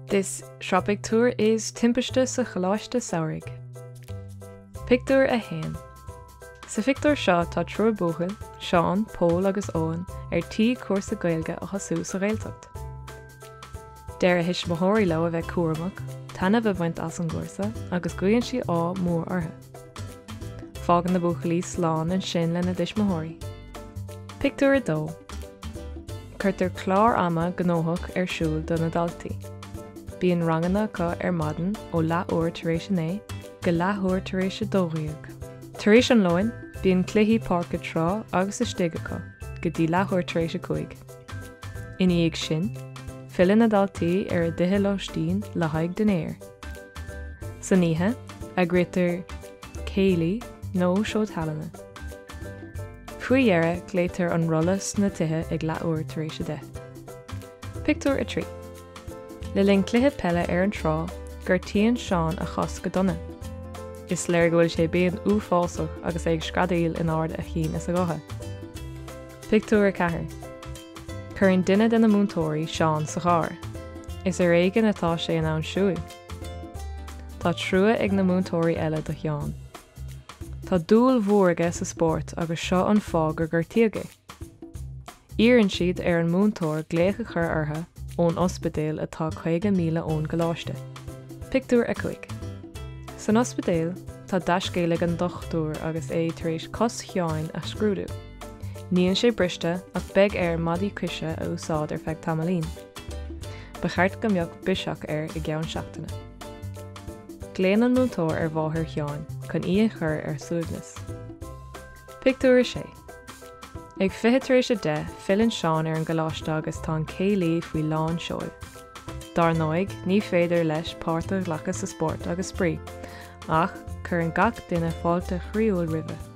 This sraith pictiúr is Timpiste sa Choláiste Samhraidh. Pictiúr 1 Sa phictiúr seo tá triúr buachaill, Seán, Pól agus Eoin, ar tí cúrsa Gaeilge a thosú sa Ghaeltacht. Deir a dtuismitheoirí leo a bheith cúramach, taitneamh a bhaint as an gcúrsa agus guíonn siad ádh mór orthu. Fágann na buachaillí slán ansin lena dtuismitheoirí. Pictiúr 2. Cuirtear clár ama gnóthach ar siúl do na daltaí. Bíonn ranganna acu ar maidin ó leathuair tar éis a naoi go leathuair tar éis a dó dhéag. Tar éis an lóin, bíonn cluichí páirce trá agus istigh acu go dtí leathuair tar éis a cúig. Ina dhiaidh sin, filleann na daltaí ar a dtithe lóistín le haghaidh dinnéir. San oíche, eagraítear céilí nó seó tallainne. Faoi dheireadh, glaoitear an rolla sna tithe ag leathuair tar éis a deich. Pictiúr 3 Le linn cluiche peile ar an trá, gortaíonn Seán a chos go dona. Is léir go bhfuil sé i bpian uafásach agus é ag screadaíl in ard a chinn is a ghutha. Pictiúr 4 Cuireann duine de na múinteoirí Seán sa charr. Is ar éigin atá sé in ann siúil. Tá trua ag na múinteoirí eile do Sheán. Tá dúil mhór aige sa spórt agus seo an fáth gur ghortaigh é. Iarrann siad ar an múinteoir glaoch a chur orthu ón ospidéal atá 50 míle ón gcoláiste. Pictiúr 5 San ospidéal tá dea-scéal ag an dochtúir agus é tar éis cos Sheáin a scrúdú. Níl sé briste ach beidh air maidí coise a úsáid ar feadh tamaillín. Ba cheart go mbeadh biseach air i gceann seachtaine. Glaonn an múinteoir ar mháthair Sheáin chun í a chur ar suaimhneas. Pictiúr 6. Ag fiche tar éis a deich filleann Seán ar an gcoláiste agus tá an céilí faoi lán seoil. Dar ndóigh, ní féidir leis páirt a ghlacadh sa spórt agus spraoi, ach cuireann gach duine fáilte chroíúil roimhe.